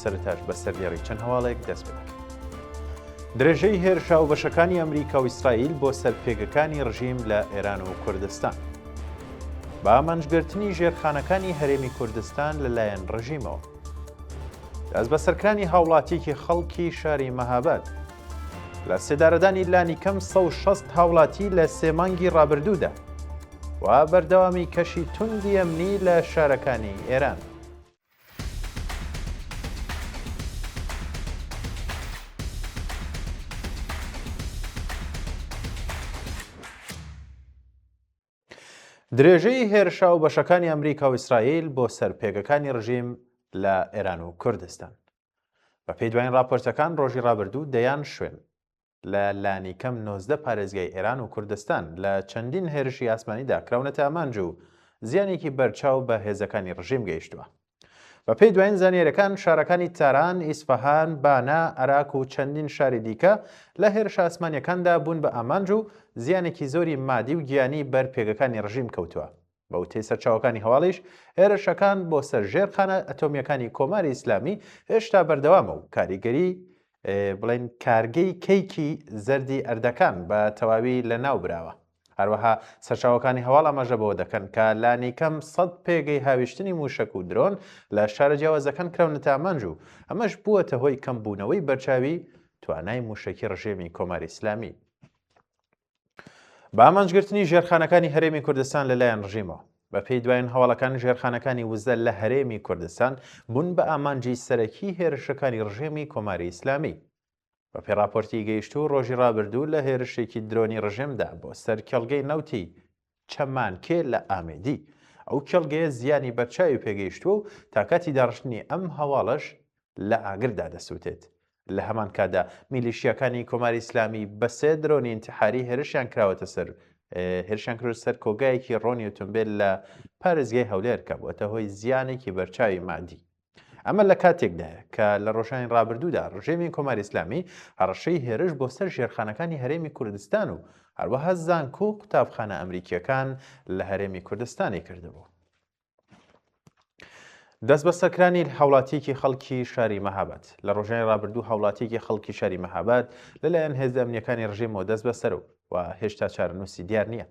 سەرەتاش بە سەردێڕی چەند هەواڵێک دەست پێ دەکەین. درێژەی هێرشە و بەشەکانی ئەمریکا و ئیسرائیل بۆ سەر پێگەکانی ڕژیم لە ئێران و کوردستان. بە ئامانجگرتنی ژێرخانەکانی هەرێمی کوردستان لەلایەن ڕژیمەوە. دەست بەسەرکرانی هاوڵاتیەکی خەڵکی شاری مەهاباد. لە سێدارەدانی لانی کەم 1600 هاوڵاتی لە سێ مانگی ڕابردوودا. و بەردەوامی کەشی توندی ئەمنی لە شارەکانی ئێران. درێژەی هێرشا و بەشەکانی ئەمریکا و ئیسرائیل بۆ سەر پێگەکانی ڕژیم لە ئێران و کوردستان بە پێی دوایین راپۆرتەکان ڕۆژی ڕابردوو دەیان شوێن لە لانیکەم نۆزدە پارێزگای ئێران و کوردستان لە چەندین هێرشی ئاسمانیدا کراونەتە ئامانج و زیانێکی بەرچاو بە هێزەکانی ڕژیم گەیشتووە. بەپێی دوایین زانیاریەکان شارەکانی تاران، ئیسفەهان، بانە، ئەراک و چەندین شاری دیکە لە هێرشە ئاسمانیەکاندا بوون بە ئامانج و زیانێکی زۆری مادی و گیانی بەر پێگەکانی ڕژیم کەوتووە. بە وتەی سەرچاوەکانی هەواڵیش، هێرشەکان بۆ سەر ژێرخانە ئەتۆمییەکانی کۆماری ئیسلامی هێشتا بەردەوامە و کاریگەری بڵین کارگەی کەیکی زەردی ئەردەکان بە تەواوی لە ناو براوە هەروەها سەرچاوەکانی هەواڵ ئەمەژە بەوە دەکەن کە لانیکەم سەد پێگەی هاویشتنی موشک و درۆن لە شارە جیاوازەکان کراونە تامانج و ئەمەش بووەتە هۆی کەمبوونەوەی بەرچاوی توانای موشکی ڕژێمی کۆماری ئسلامی بە ئامانجگرتنی ژێرخانەکانی هەرێمی کوردستان لەلایەن ڕژیمەوە بەپێی دوایین هەواڵەکان ژێرخانەکانی وزە لە هەرێمی کوردستان بوون بە ئامانجی سەرەکی هێرشەکانی ڕژێمی کۆماری ئیسلامی بە پێ راپۆرتی گەیشتوو ڕۆژی ڕابردوو لە هێرشێکی درۆنی ڕژێمدا بۆ سەر کێڵگەی نەوتی چەمانکێ لە ئامێدی ئەو کێڵگەیە زیانی بەرچاوی پێگەیشتووە و تاکاتی داڕشتنی ئەم هەواڵەش لە ئاگردا دەسوتێت. لە هەمان کاتدا میلیشیاکانی کۆماری ئیسلامی بە سێ درۆنی ئینتحاری هێرشیان کراوەتە سەر هێرشیان کردە سەر کۆگایەکی ڕۆنی ئۆتۆمبێل لە پارێزگای هەولێر کە بووەتە هۆی زیانێکی بەرچاوی مادی. ئەمە لە کاتێکدایە کە لە ڕۆژانی ڕابردوودا ڕژێمی کۆماری ئیسلامی هەڕەشەی هێرش بۆ سەر ژێرخانەکانی هەرێمی کوردستان و هەروەها زانکۆ و قوتابخانە ئەمریکیەکان لە هەرێمی کوردستانی کردبوو. دەست بەسەرکرانی هاوڵاتیەکی خەڵکی شاری مەهابەت لە ڕۆژانی ڕابردوو هاوڵاتیەکی خەڵکی شاری مەهابەت لەلایەن هێزدە ئەمنیەکانی ڕژێمەوە دەست بەسەر و و هێشتا چارەنووسی دیار نییە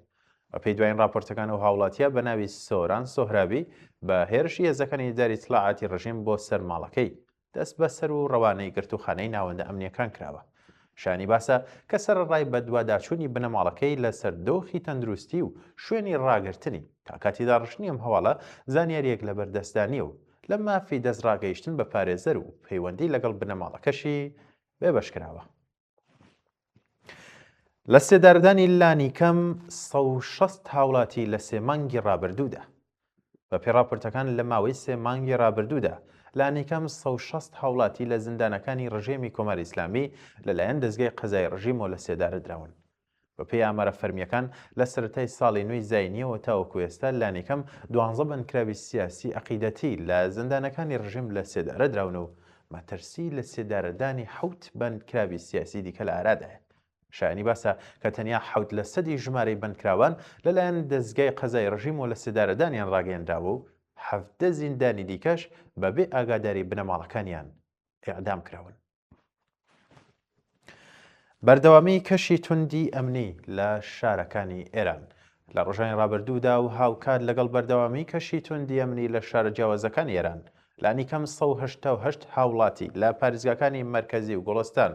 بەپێی دوایین راپۆرتەکان ئەو هاوڵاتیە بە ناوی سۆران سۆهرابی بە هێرشی هێزەکانی ئیداری ئیتلاعاتی رژیم بۆ سەر ماڵەکەی دەست بەسەر و رەوانەی گرتووخانەی ناوەندە ئەمنیەکان کراوە شانی باسە کە سەرەڕای بەدواداچوونی بنەماڵەکەی لەسەر دۆخی تەندروستی و شوێنی راگرتنی تا کاتی داڕشتنی ئەم هەواڵە زانیاریەک لەبەردەستدا نیە و لە مافی دەست راگەیشتن بە پارێزەر و پەیوەندی لەگەڵ بنەماڵەکەشی بێبەش کراوە لە سێدارەدانی لانیکەم 16 هاوڵاتی لە سێ مانگی ڕابردوودا بە پێڕاپۆرتەکان لە ماوەی سێ مانگی ڕابردوودا لانیکەم 16 هاوڵاتی لە زیندانەکانی ڕژێمی کۆماری ئیسلامی لەلایەن دەستگای قەزای ڕژیمەوە لە سێدارە دراون بەپێی ئامارە فەرمییەکان، لە سەرەتای ساڵی نوێی زاینییەوە تاوەکو ئێستا لانیکەم دوانزە بەندکراوی سیاسی ئەقیدەتی لە زیندانەکانی ڕژیم لە سێدارە دراون و مەترسی لە سێدارەدانی حەوت بەندکراوی سیاسی دیکە لە ئارادایە. شایانی باسە کە تەنیا حەوت لە سەدی ژمارەی بەندکراوان لەلایەن دەزگای قەزای ڕژیمەوە لە سێدارەدانیان ڕاگەیەنراوە و حەڤدە زیندانی دیکەش بەبێ ئاگاداری بنەماڵەکانیان ئێعدام کراون. بەردەوامی کەشی توندی ئەمنی لە شارەکانی ئێران لە ڕژانی ڕابردوودا و هاوکات لەگەڵ بەردەوامی کەشی توندی ئەمنی لە شارە جیاوازەکانی ئێران لانیکەم 1970 هاوڵاتی لە پارێزگاکانی مەرکەزی و گۆڵستان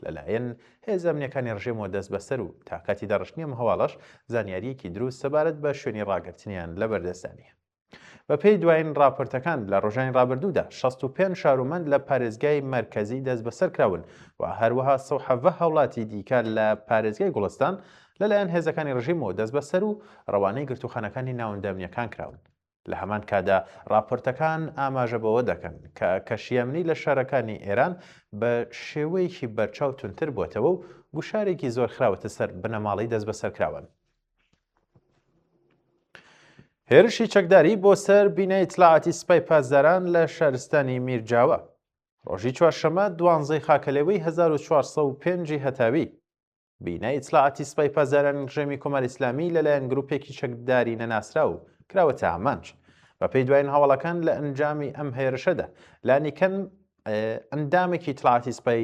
لەلایەن هێزە ئەمنیەکانی ڕژێمەوە دەست بەسەر و تاکاتی دەڕشتنی ئەم هەواڵەش زانیاریەکی دروست سەبارەت بە شوێنی ڕاگرتنیان لەبەردەستانە بەپێی دوایین راپۆرتەکان لە رۆژانی رابردوودا شەست و پێنج شارومەند لە پارێزگای مەرکەزی دەستبەسەرکراون و هەروەها سەد و حەڤدە هاوڵاتی دیکە لە پارێزگای گوڵستان لەلایەن هێزەکانی رژیمەوە دەستبەسەر و رەوانەی گرتووخانەکانی ناوەندە ئەمنییەکان کراون. لە هەمان کاتدا راپۆرتەکان ئاماژە بەوە دەکەن کە کەشی ئەمنی لە شارەکانی ئێران بە شێوەیەکی بەرچاو توندتر بووەتەوە و گوشارێکی زۆر خراوەتە سەر بنەماڵەی دەستبەسەرکراوان. هێرشی چەکداری بۆ سەر بینای ئیتلاعاتی سپای پاسداران لە شارستانی میرجاوە ڕۆژی چوارشەمە دوانزەی خاکەلێوەی 1405 هەتاوی بینای ئیتلاعاتی سپای پاسدارانی ڕژێمی کۆمار ئیسلامی لەلایەن گروپێکی چەکداری نەناسرا و کراوەتە ئامانج بەپێی دوایین هەواڵەکان لە ئەنجامی ئەم هێرشەدا لانیکەن ئەندامێکی ئیتلاعاتی سپای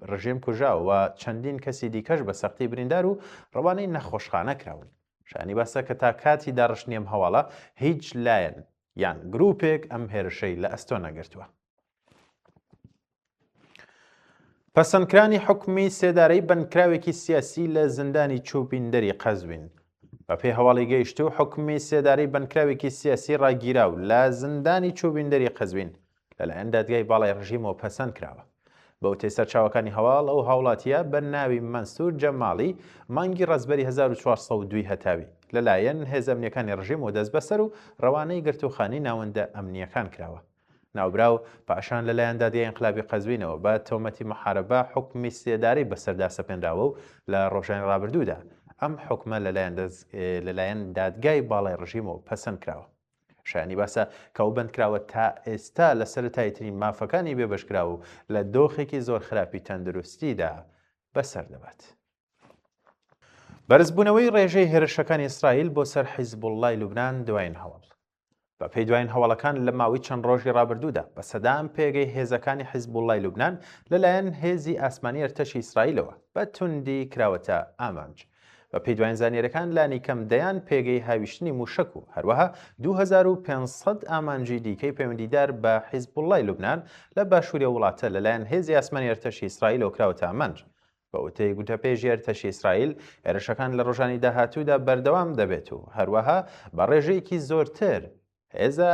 ڕژێم کوژاو و چەندین کەسی دیکەش بە سەختی بریندار و ڕەوانەی نەخۆشخانە کراون شانی باسە کە تا کاتی داڕشتنی ئەم هەواڵە هیچ لایەن یان گروپێک ئەم هێرشەی لە ئەستۆ نەگرتووە پەسەندکرانی حکومی سێدارەی بەندکراوێکی سیاسی لە زیندانی چوبیندەری قەزوین بە پێی هەواڵی گەیشت و حکومی سێدارەی بەندکراوێکی سیاسی ڕاگیرا و لە زیندانی چوبیندەری قەزوین لەلایەن دادگای باڵای ڕژیمەوە پەسەند کراوە. بەوتەی سەرچاوەکانی هەواڵ، ئەو هاوڵاتییە بە ناوی مەنسور جەماڵی مانگی ڕەزبەری هەزار و چوار سەد و دوو هەتاوی لەلایەن هێزە ئەمنییەکانی ڕژیمەوە دەستبەسەر و ڕەوانەی گرتووخانەی ناوەندە ئەمنییەکان کراوە. ناوبراو پاشان لەلایەن دادگای ئینقلابی قەزوینەوە بە تۆمەتی محاربە حوکمی سێدارەی بەسەردا سەپێنراوە و لە ڕۆژانی ڕابردوودا ئەم حوکمە لەلایەن دادگای باڵای ڕژیمەوە پەسەند کراوە. شایانی باسە کە ئەو بەندکراوە تا ئێستا لە سەرەتاییترین مافەکانی بێبەشکراو و لە دۆخێکی زۆر خراپی تەندروستیدا بەسەر دەبات. بەرزبوونەوەی ڕێژەی هێرشەکانی ئیسرائیل بۆ سەر حیزبوڵڵای لوبنان دوایین هەواڵ. بە پێی دوایین هەواڵەکان لە ماوەی چەند ڕۆژی ڕابردوودا بە سەدان پێگەی هێزەکانی حیزبوڵڵای لوبنان لەلایەن هێزی ئاسمانی ئەرتەشی ئیسرائیلەوە بە توندی کراوەتە ئامانج. بەپێی دواین زانیاریەکان لانی کەم دەیان پێگەی هاویشتنی موشەک و هەروەها 2500 ئامانجی دیکەی پەیوەندیدار بە حیزبوڵای لوبناان لە باشووری وڵاتە لەلایەن هێزی ئاسمانی ئەرتەشی ئیسرائیلەوە کراوەتە ئامانج. بە وتەی گوتەپێژی ئەرتەشی ئیسرائیل، هێرشەکان لە ڕۆژانی داهاتوودا بەردەوام دەبێت و هەروەها بە ڕێژەیەکی زۆرتر هێزە